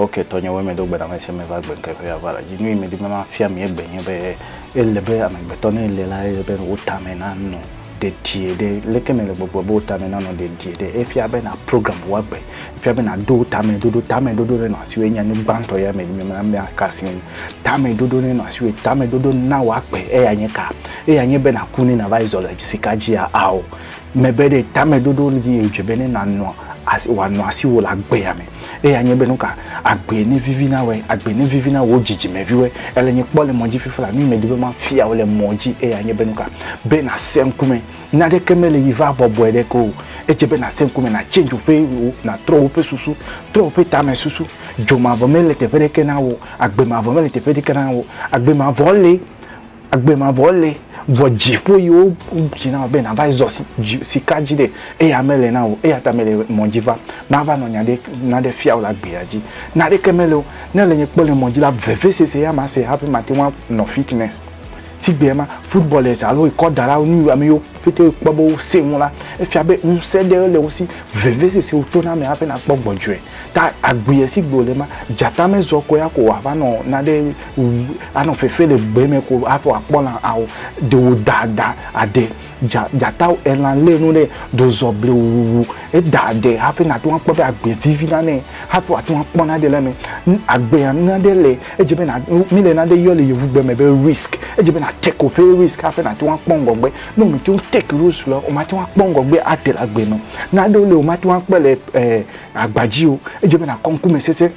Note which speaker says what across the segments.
Speaker 1: ok tɔnye wo me do gbeda me se me va gbe ke ya va la ji nui me di me ma fia mi egbe nye be ele be amegbetɔ ne le la ele be wo ta me na no dedie ɖe, leke nèle gbɔgblɔ be wò tame nanɔ dedie ɖe? Efia be nàprogram wò agbe. Efia be nàɖo tameɖoɖo. Tameɖoɖo nenɔ asiwòe nye nu gbãtɔ ya me mele be aka asi ŋu. Tameɖoɖo nenɔ asiwòe. Tameɖoɖo na wò agbe. Eya nye ka? Eya nye be nàku ne nàva yi zɔ le sika dzia? Ao, mebe ɖe. Tameɖoɖo dzi ye wòdze be ne nànɔ asi, wòanɔ asiwò le agbea me. Eya nye be nuka agbe ne vivi na wɛ, agbe ne vivi na wo dzidzime viwɛ. Ele nye kpɔ le mɔ dzi fifi la, nu yi me di be ma fia wo le mɔ dzi eya nye be nuka be na se ŋkume. Nya ɖe ke me le yi va bɔbɔe ɖe ke o. Edze be na se ŋkume na change woƒe wo, na trɔ woƒe susu, trɔ woƒe tame susu. Dzo mavɔ me le teƒe ɖe ke na wo, agbe mavɔ me le teƒe ɖe ke na wo. Agbe mavɔ le Agbe mavɔ le, vɔ dziƒo yi wo dzi na wò be nàva yi zɔ sika dzi ɖe, eya mele na wò. Eya ta mele mɔ dzi va mava nɔ nya ɖe naɖe fia wò le agbea dzi. Naɖeke mele o. Ne èle nye kpɔ le mɔ dzi la, vevesese ya mase hafi mate ŋu anɔ fitness. Sigbea ma, footballers alo ekɔdalawo, nu yi ame yiwo pɛtɛ kpɔ be wosẽ ŋu la, efia be ŋusẽ ɖe le wo si. Vevesese wò toname hafi nàkpɔ gbɔdzɔe. Ta agui esi gbe wòle ma, dzata mezɔ kɔ ya ko wòava nɔ naɖe wum, anɔ fefe le gbe me ko hafi wòakpɔ lã a o. Ɖe wòda da aɖe. Dza, dzata wu elã lé nu ɖe, ɖe wòzɔ blewuwu heda aɖe hafi nate ŋu akpɔ be agbe vivi nanɛ hafi wòate ŋu akpɔ naɖe le eme. Nu, agbea nu aɖe le, edze be na, mi le naɖe yɔ le Yevugbe me be risk. Edze be na take woƒe risk hafi nate ŋu akpɔ ŋgɔgbe. Ne wòmete ŋu take risk le o, wòmate ŋu akpɔ ŋgɔgbe ate le agbe me o. Naɖewo le wòmate ŋu akpɔe le ɛɛ. Agba dzi o, edze be nàkɔ ŋkume sese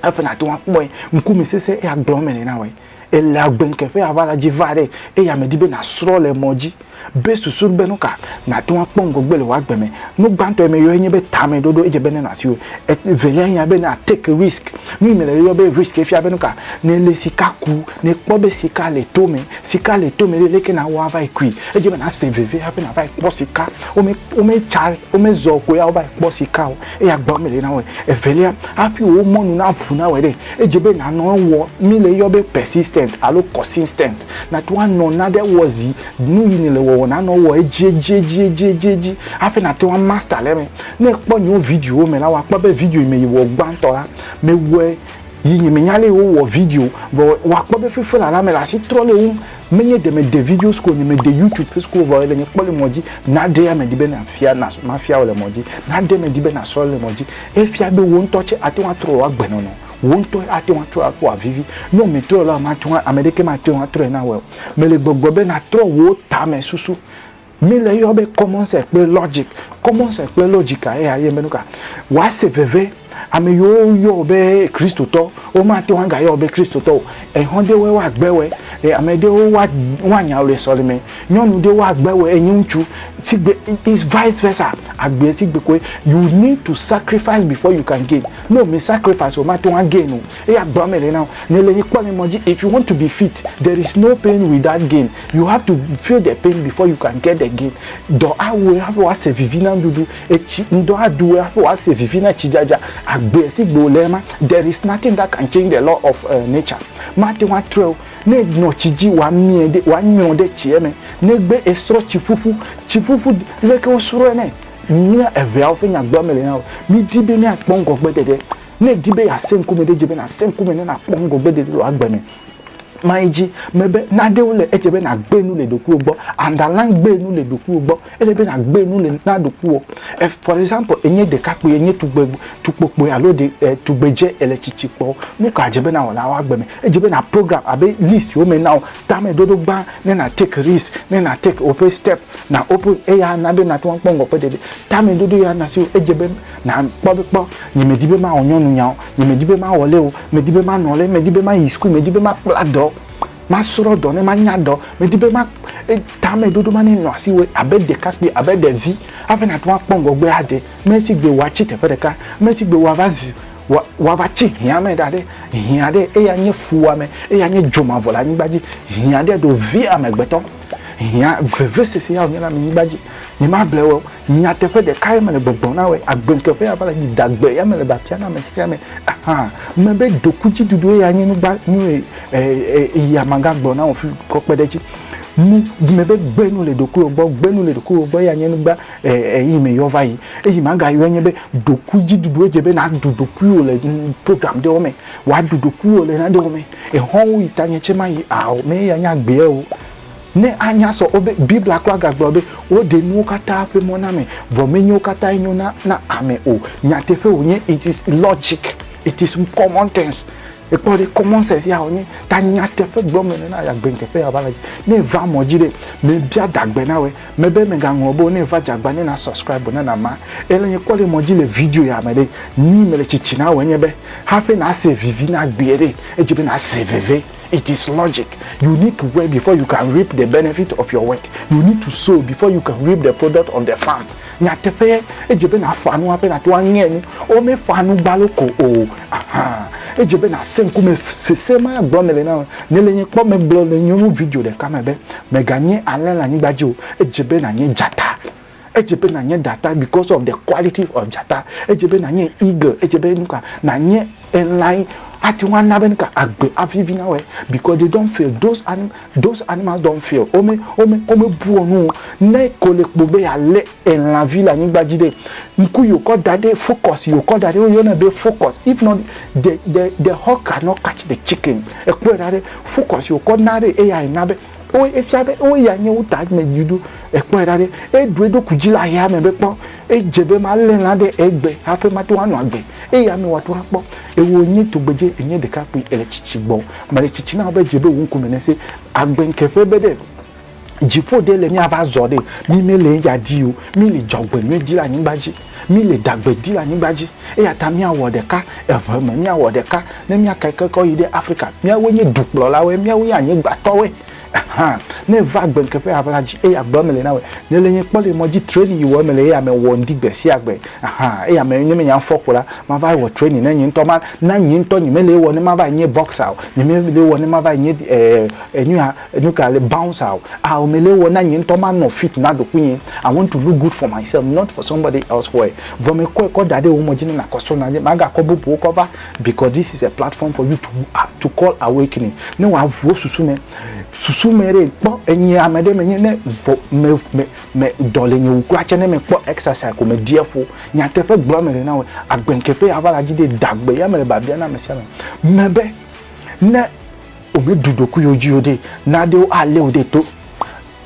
Speaker 1: hafi nàte ŋu akpɔe. Ŋkume sese eya gblɔ eme nɛ na wɔ. Ele agbeŋke ƒe aʋala dzi va ɖe eya medi be nàsrɔ̃ le mɔ dzi be susu be nuka nàte ŋu akpɔ ŋgɔgbe le wò agbe me. Nu gbãtɔ yi meyɔe nye be tameɖoɖo. Edze be nenɔ asiwò. Evelia nye ya be na take risk. Nu yi mele yɔyɔ be risk efia be nuka? Ne èlé sika ku, ne èkpɔ be sika le to me, Sika le tome ɖe, leke nàwɔ ava yi kui? Edze be nàse veve hafi nàva yi kpɔ sika. Wome, wometsa, womezɔ koe ava yi kpɔ sika o. Eya gbɔgblɔm mele na wò. Evelia, hafi wò mɔ nu naʋu na wòe ɖe, edze be nànɔ ewɔ. Mi le eyɔ be persistent alo consistent. Nàto anɔ naɖe wɔ zi, nu yi nèle wɔwɔ nànɔ wɔ edzi, edzi, edzi, edzi, edzi, edzi hafi nàte ŋu amaster le eme. Ne èkpɔ yewo videowo me la, wòakpɔ be video yi me yewɔ gbãtɔ la, mewɔe yi nye me nya le wo wɔ video vɔ wa kpɔ be fefe la la me la si trɔ le wo me nye de me de video sko nye me de youtube fe sko vɔ le nye kpɔ le mɔ ji na de ya me di be na fia na ma fia le mɔ ji na de me di be na sɔ le mɔ ji e fia be wo ŋtɔ tse ate wa trɔ wa gbe nɔnɔ wo ŋtɔ ate wa trɔ akpɔ avivi ne me trɔ la ma te wa ame ɖeke ma te wa trɔ na wɔ me le gbɔgbɔ be na trɔ wo ta me susu Mi le yɔ be common sense kple logic. Common sense kple logic a eya yɔe be nuka? Wa se veve. Ame yiwo yɔ wo be Kristotɔ, wo ma te ŋu aga yɔ wo be Kristotɔ o. Ehɔn ɖe wɔe wa gbe wɔe. E ame ɖewo wa wa nya le sɔleme. Nyɔnu ɖe wa gbe wɔe enyi ŋutsu. Sigbe is vice versa. Agbe sigbe koe. You need to sacrifice before you can gain. Ne o me sacrifice o, o ma te ŋu a gain o. Eya agbeawo me le na wo. Ne le nyi kpɔ le mɔ dzi if you want to be fit, there is no pain without gain. You have to feel the pain before you can get the gain. Dɔ awu ɣe hafi woase vivi na nuɖuɖu. Etsi ŋdɔ aɖu ɣe hafi woase vivi na tsidzadza. Agbe si gbe wòle ma, there is nothing that can change the law of uh, nature. Mate ŋu atrɔe o. Ne enɔ tsi dzi, wòamiɛ ɖe, wòanyrɔ ɖe tsiɛ me. Negbe esrɔ̃ tsiƒuƒu, tsiƒuƒu, leke wosrɔ̃e nɛ? Mía eveawo ƒe nyagblɔa meli na wò. Midi be míakpɔ ŋgɔgbeɖeɖe. Ne èdi be yeasẽ ŋkume ɖe, edze be nàsẽ ŋkume ne nàkpɔ ŋgɔgbeɖeɖe le wò agbe me. ma yi dzi me be naɖewo le edze be nagbe nu le ɖokuiwo gbɔ underline gbe nu le ɖokuiwo gbɔ ele be nagbe nu le na ɖokuiwo e for example enye ɖekakpui enye tugbe tukpokpui alo ɖe e tugbedze ele tsitsi kpɔ nu ka dze be nawɔ le awa gbe me edze be na program abe list wo me na wo tameɖoɖo gbã ne na take risk ne na take woƒe step na open eya na be nate ŋu akpɔ ŋgɔkpe ɖeɖe tameɖoɖo ya na si wo edze be na kpɔ be kpɔ nyemedi be mawɔ nyɔnunyawo Nye medi be ma wɔle o, medi be ma nɔle, medi be ma yi school, medi be ma kpla dɔ, ma srɔ dɔ ne ma nya dɔ, medi be ma e, tame dodo ma ne nɔ asi wɔ abe ɖekakpui, abe ɖevi, abe na to akpɔ ŋgɔgbe ade, me si gbe wa tsi teƒe ɖeka, me si gbe wa va zi, wa, wa va tsi hia me ɖa ɖe, hia ɖe eya nye fuwame, eya nye dzomavɔ le anyigba dzi, hia ɖe ɖo vi amegbetɔ. Hiã vevesese ya wònye le amenyigba dzi. Nyemable wò o. Nyateƒe ɖeka ye mele gbɔgblɔm na wòe. Agbeŋkeƒe ya va le dzi. Dagbe ya mele ba fiam na ame sia ame. Aha! Mebe dokudziɖuɖue ya nye nugba, nu e, e, e, e ya magagblɔ na wò fi kɔ kpe ɖe edzi. Nu, mebe gbe nu le ɖokuiwò gbɔ. Gbe nu le ɖokuiwò gbɔ ya nye nugba e, e, eyi me yɔ va yi. Eyi magayɔe nye be dokuidziɖuɖu. Edze be nàɖu ɖokuiwò le nu, programme ɖewo me. Wòaɖu ɖokuiwò le nanewo me. Exɔwo yi tanye tsɛ mayi ao mɛ ya nya gbea o. Ne a nya sɔ o be Biblia kura ga gblɔ be wo ɖe nuwo kata ƒe mɔ na me vɔ me nyewo kata enyo na na ame o. Nyateƒe wo nye it is logic it is common things ekpɔ ɖe common sense ya wo nye ta nyateƒe gblɔ me nena ya gbe ŋteƒe ya va le dzi ne va mɔ dzi ɖe me bia dagbe na woe Me be me ga ŋlɔ be ne va jagba ne na subscribe na na ma. E le nye kɔ le mɔ ji le video ya me ɖe. Nyi me le tsitsi na wɔ nye be hafi na se vivi na gbie ɖe. E dzi be na se veve. It is logic. You need to work before you can reap the benefit of your work. You need to sow before you can reap the product of the farm. Nyateƒe ye. E dze be na fa nu hafi na to a ŋɛ nu. Wo me fa nu gbalo ko o. Aha. E dze be na se ŋkume sese ma gblɔ me le na wɔ. Ne le nye kpɔ me gblɔ le nyɔnu video ɖeka me be. Mèganye alẽ le anyigba dzi o. Edze be nànye dzata. Edze be nànye dzata because of the quality of dzata. Edze be nànye eagle. Edze be nu ka, nànye elã yi ate ŋu ana be nu ka, agbe avi vi na wòe because they don't fail. Those ani, those animals don't fail. Wome, wome, womebuɔ nu o. Ne ko le kpo be yealé elã vi le anyigba dzi ɖe ŋku yio kɔ da ɖe focus yio kɔ da ɖe woyɔ ne be focus if not the the the hawk cannot catch the chicken ekpɔe ɖa ɖe focus yio kɔ na ɖe eya ena be wo efia be wo ya nye wo ta me dziɖo ekpɔe ɖa ɖe eɖu eɖoku dzi le aya me be kpɔ edze be ma le lã ɖe egbe haƒe ma to anɔ agbe eya me wa to akpɔ ewo nye tugbedze enye ɖeka kpui ele tsitsi gbɔ mele tsitsi na be dze be wo ŋkume nese agbe ŋkeƒe be ɖe dziƒo ɖe le míava zɔ ɖe mi mele eya di o mi le dzɔgbenyui di le anyigba dzi mi le dagbe di le anyigba dzi eya ta míawɔ ɖeka eve me míawɔ ɖeka ne míaka kekɔ yi ɖe afrika míawoe nye dukplɔlawoe míawoe nye anyigbatɔwoe hã ne va gbenkeƒe aʋla dzi eya gbe mele na wɔ ne le nye kpɔ le mɔ dzi training yi wɔ mele eya me wɔ ŋdi gbe sia gbe hã eya me ne menya fɔ ko la mava wɔ training ne nye ŋutɔ ma na nye ŋutɔ nye mele wɔ ne mava nye boxer o nye mele wɔ ne mava nye eh, eh, eh, Nuka le bouncer o aw me le wɔ na nye ŋtɔ ma nɔ fit na ɖokui nye I want to look good for myself not for somebody else why vɔ me kɔe kɔ daɖe womɔ dzi ne na kɔ srɔna dzi ma ga kɔ bubuwo kɔ va because this is a platform for you to to call awakening ne wa ʋu wo susu me susu me ɖe kpɔ enye ame ɖe me nye ne vɔ me me me dɔ le nye wu kura tse ne me kpɔ exercise ko me deɛ ƒo nyateƒe gblɔ me le na wɔ agbe ŋkeƒe ya va la dzi ɖe dagbe ya me le babia na ame sia ame me be ne Womeɖu ɖokuiwo dzi o ɖe, nanewo alé wo ɖe to.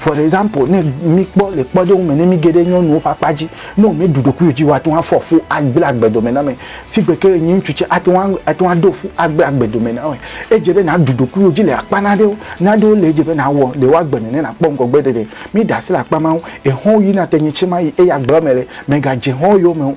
Speaker 1: For example, ne míkpɔ le kpɔɖeŋu me, ne míge ɖe nyɔnuwo ƒe akpa dzi, ne womeɖu ɖokuiwo dzi o, woate ŋu afɔ fu agble agbedome na ame si gbe ke enye ŋutsu tsɛ ate ŋu ate ŋu aɖo fu agble agbedome na wɔe. Edze be nàɖu ɖokuiwò dzi le akpa nanewo. Nanewo le edze be nàwɔ le wò agbe me ne nàkpɔ ŋgɔgbeɖeɖe. Míɖe asi le akpa ma ŋu. Exɔ̃wò yina te nye tsɛmaɣi eye agblea me le, mègadze xɔ̃wò yome o.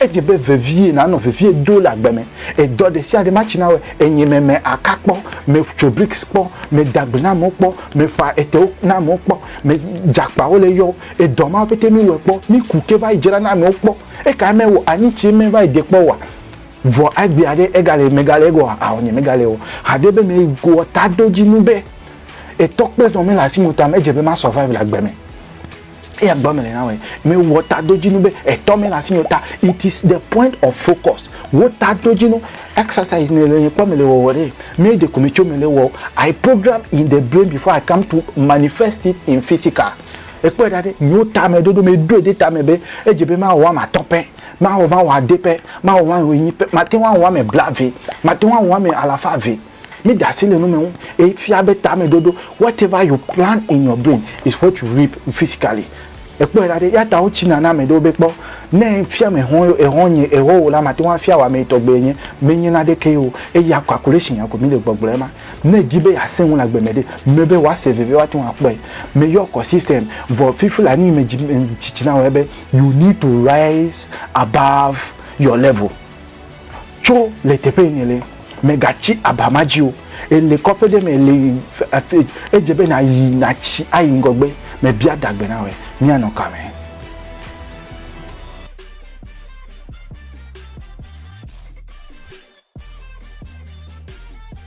Speaker 1: Edze be vevie nanɔ vevie do le agbe me. Edɔ ɖe sia ɖe matsi na wɔ enye me me aka kpɔ, me tso bricks kpɔ, me da gbe na amewo kpɔ, me ƒa etewo na amewo kpɔ, me dze akpawo le eyɔ. Edɔ mawo pɛtɛ mi wɔe kpɔ, mi ku ke va yi dzra na amewo kpɔ. Ekae me wɔ anyi tsi me va yi de kpɔ wɔa? Vɔ agbe aɖe ega le me ga le egɔ a ɔ nye me ga le ɔ. Haɖe be me wɔ tadodzinu be etɔ kple nɔ me le asi me o ta me edze be ma survive le agbe me. eya gba mele na wɛ me wɔ ta do dzi nu be etɔ me la si nyota it is the point of focus wo ta do dzi nu exercise ne le kpɔ me le wɔ wɔ de me de ko me tso me le wɔ i program in the brain before i come to manifest it in physical ekpɔ da de nyo ta me dodo me do de ta me be edze be ma wɔ ma tɔ pɛ ma wɔ ma wɔ ade pɛ ma wɔ ma wɔ enyi pɛ ma te wa wɔ me bla ve ma te wa wɔ me alafa ve Mi da asi le nu me ŋu eye fia be tame dodo whatever you plant in your brain is what you reap physically. Ekpɔe ɖa ɖe, eya ta wotsi na na ame ɖewo be kpɔ ne fia me hɔn ye ehɔn nye ehɔ wò la mateŋu afia wò ame tɔgbe nye menye na ɖeke ye o eya calculation ya ko mi le gbɔgblɔ ema. Ne edi be ya sẽŋu le agbe me ɖe me be wa se veve wa teŋu akpɔe. Me yɔ kɔ system vɔ fifi la nu yi me dzi me tsitsi na wɔ ya be you need to rise above your level. Tso le teƒe yi nèle, mègatsi aba ma dzi o. Èle kɔƒe ɖe me le afi edze be nàyi nàtsi ayi ŋgɔgbe. Mebia adagbe na wòe, míanɔ ka me?